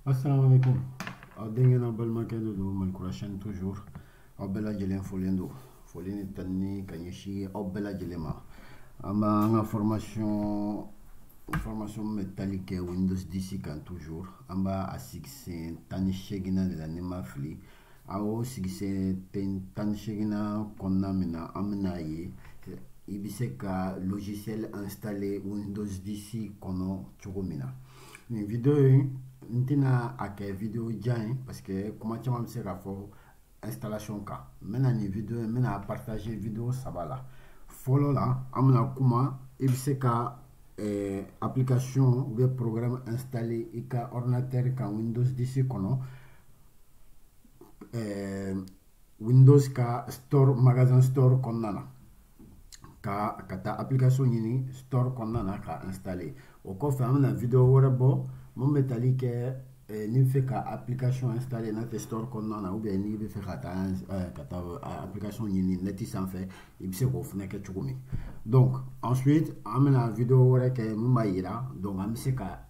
asalamu aleyikum aw denkɛ n'aw balimakɛ de don malikura chaîne toujours aw bɛɛ lajɛlen folen don foli ni tanuni ka ɲɛsin aw bɛɛ lajɛlen ma an b'an ka formation formation min bɛ tali kɛ windows 10 kan toujours an b'a a sigisen tan ni seeginnan de la ni n ma fili a y'o sigisen tan tan ni seeginnan kɔnɔna min na an bɛna a ye i bɛ se ka logiciel installer windows 10 kɔnɔ cogo min na nin video in n tɛna a kɛ video jan ye parce que kuma caman bɛ se ka fɔ installation kan n bɛna nin video in n bɛn'a partager video saba la fɔlɔ la an bɛna kuma i bɛ se ka eh, application ou bien programme installer i ka ordinateur kan windows 10 kɔnɔ eh, windows ka store magasin store kɔnɔna na ka ka taa application ɲini store kɔnɔna na k'a installer o kɔfɛ an bɛna video wɛrɛ bɔ min bɛ tali kɛ eh, n'i bɛ fɛ ka application installer n'a tɛ store kɔnɔna na ou bien n'i bɛ fɛ ka taa eh, ka taa eh, application ɲini net sanfɛ i bɛ se k'o fana kɛ cogo min donc ensuite an bɛna video wɛrɛ kɛ min b'a jira donc an bɛ se ka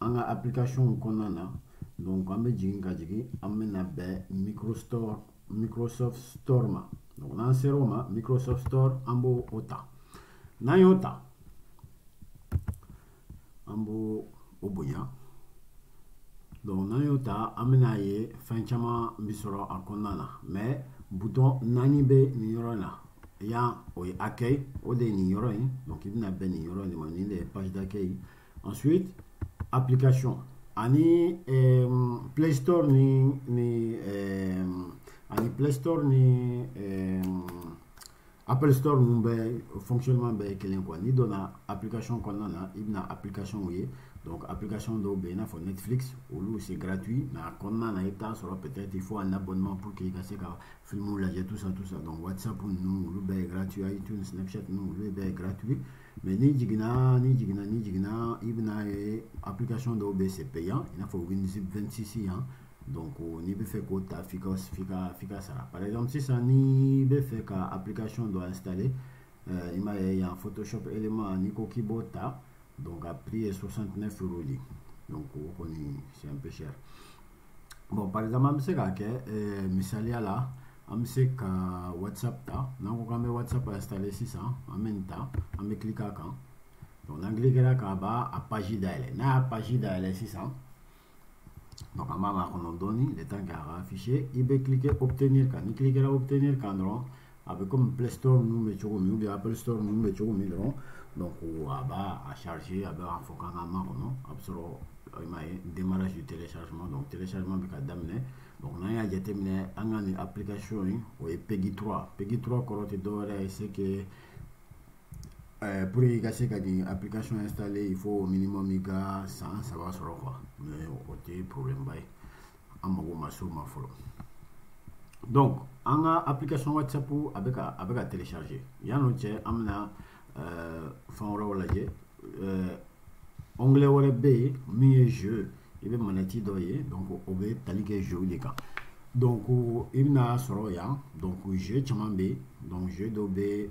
an ka application kɔnɔna na donc an bɛ jigin ka jigin an bɛna bɛn microstore microsoft store ma donc n'an sera o ma microsoft store an b'o o ta n'an y'o ta an b'o o bonya donc n'an y'o ta an bɛna ye fɛn caman bɛ sɔrɔ a kɔnɔna na mais bouton naani bɛ nin yɔrɔ in na yan o ye accueil o de ye nin yɔrɔ in donc i bɛna bɛn nin yɔrɔ in de ma nin de ye page d'accueil ensuite application ani eh, play store ni ni eh, ani play store ni eh, apple store ninnu bɛɛ fonctionnement bɛɛ ye kelen quoi n'i donna application kɔnɔna na i bɛna applicationw ye donc application dɔw bɛ yen i n'a fɔ netflix olu c'est gratuit mais a kɔnɔna na i bɛ taa sɔrɔ peut-être il faut un abonnement pour que i ka se ka filmw lajɛ tout ça tout ça donc whatsapp ninnu olu bɛɛ ye gratuit iTunes snapchat ninnu olu bɛɛ ye gratuit mais n'i jiginna n'i jiginna n'i jiginna i bɛna a ye application dɔw bɛ yen c'est payant i n'a fɔ winzip 26 yan donc n'i bɛ fɛ k'o ta f'i ka f'i ka f'i k'a sara par exemple sisan n'i bɛ fɛ ka application dɔ installer euh, i m'a ye yan photoshop élément n'i ko k'i b'o ta donc a prix ye 69 euros de donc o kɔni c'est un peu cher bon par exemple an bɛ se k'a kɛ eh, misaliya la an bɛ se ka whatsapp ta n'an ko k'an bɛ whatsapp installer sisan an bɛ nin ta an bɛ cliquer a kan donc n'an cliquera a kan a b'a page dayɛlɛ n'a y'a page dayɛlɛ sisan donc an b'a makɔnɔ dɔɔni le temps k'a ka afficher i bɛ cliquer obtenir kan n'i cliquera obtenir kan dɔrɔn a bɛ komi play store ninnu bɛ cogo min ou bien apple store ninnu bɛ cogo min dɔrɔn donc a b'a a charge a bɛ a fɔ k'an ka makɔnɔ a bɛ sɔrɔ i m'a ye démarrage du téléchargement donc téléchargement bɛ ka daminɛ donc n'an y'a jateminɛ an ka nin application in o ye pegi 3 pegi 3 kɔrɔ tɛ dɔwɛrɛ ye c'est que pour i ka se ka nin application installer il faut au minimum i ka san saba sɔrɔ quoi mais o tɛ problème ba ye an mago ma s'o ma fɔlɔ donc an ka application whatsapp a bɛ ka a bɛ ka télécharger yan'o cɛ an bɛna euh, fɛn wɛrɛw lajɛ euh, onglet wɛrɛ bɛ yen min ye jeu i bɛ manette dɔ ye donc o bɛ tali kɛ jeuw de kan donc i bɛna sɔrɔ yan donc jeu caman bɛ yen donc jeu dɔw bɛ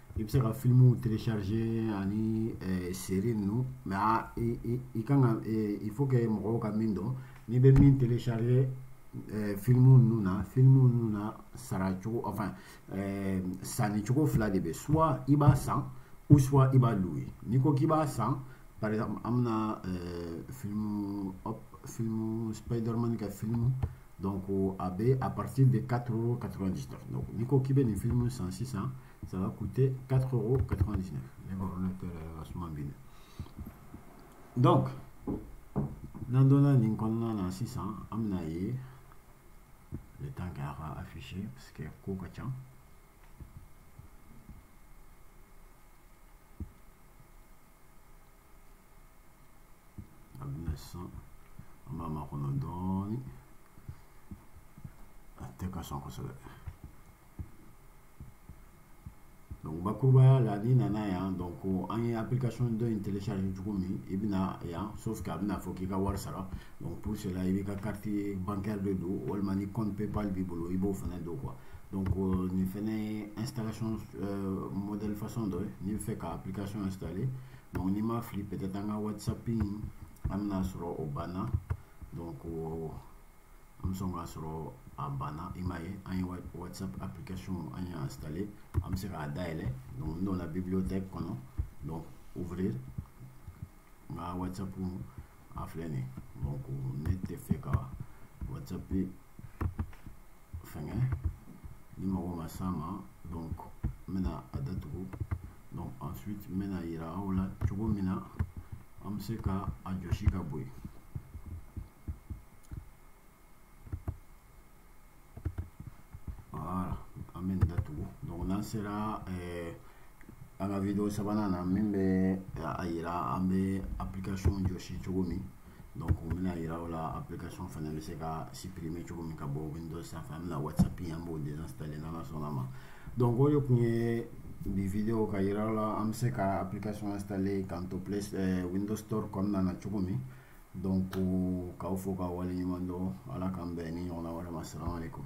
i bɛ se ka filimuw télécharger ani eh, série ninnu mais a i i i kan ka eh, il faut que mɔgɔw ka min dɔn n'i bɛ min télécharger eh, filimu ninnu na filimu ninnu na sara cogo enfin sanni cogo fila de bɛ soit i b'a san ou soit i b'a louer n'i ko k'i b'a san par exemple an bɛna filimu hop filimu Spiderman ka filimu donc a bɛ à partir de 4 euros 99 donc n'i ko k'i bɛ nin filimu san sisan ça va coûter 4 euros 99 ne ka ordinateur ka suma bi dɛ donc n'an donna nin kɔnɔna na sisan an bɛna ye le temps que a ka afficher parce que ko ka ca a bɛna sisan an b'a makɔnɔ dɔɔni a tɛ ka sɔn kosɛbɛ donc bakurubaya la n'i nana yan donc ko an ye application dɔ in télécharger cogo min i bɛna yan sauf que a bɛna fɔ k'i ka wari sara donc pour cela i b'i ka carte bancaire de don walima ni compte paypal b'i bolo i b'o fana don quoi donc euh, nin fɛnɛ ye installation euh, modèle façon dɔ ye n'i bɛ fɛ ka application installer donc n'i ma fili peut-être an ka whatsapp in an bɛna sɔrɔ o banna donc an bɛ sɔn k'a sɔrɔ a banna i m'a ye an ye whatsapp application an y'a installé an bɛ se k'a dayɛlɛ donc n donna bibliothèque kɔnɔ donc ouvrir n ka whatsapp a filɛ nin donc ne tɛ fɛ ka whatsapp fɛngɛ ne mago ma s'a ma donc n bɛna a datugu donc ensuite n bɛna yira aw la cogo min na an bɛ se ka a jɔsi ka bɔ yen voilà an bɛ nin datugu donc n'an sera eh, an ka video sabanan na min bɛ a yira an bɛ application jɔsi cogo min donc u bɛna yira o la application fana bɛ se ka supprimer cogo min ka bɔ windows sanfɛ an bɛna whatsapp in an b'o désinstaller n'ala sɔnna ma donc o de tun ye bi video ka yira o la an bɛ se ka application installer k'an to play eh, windows store kɔnɔna na cogo min donc k'aw fo k'aw waleɲuman dɔn ala k'an bɛn nin ɲɔgɔnna wɛrɛ ma salamaleykum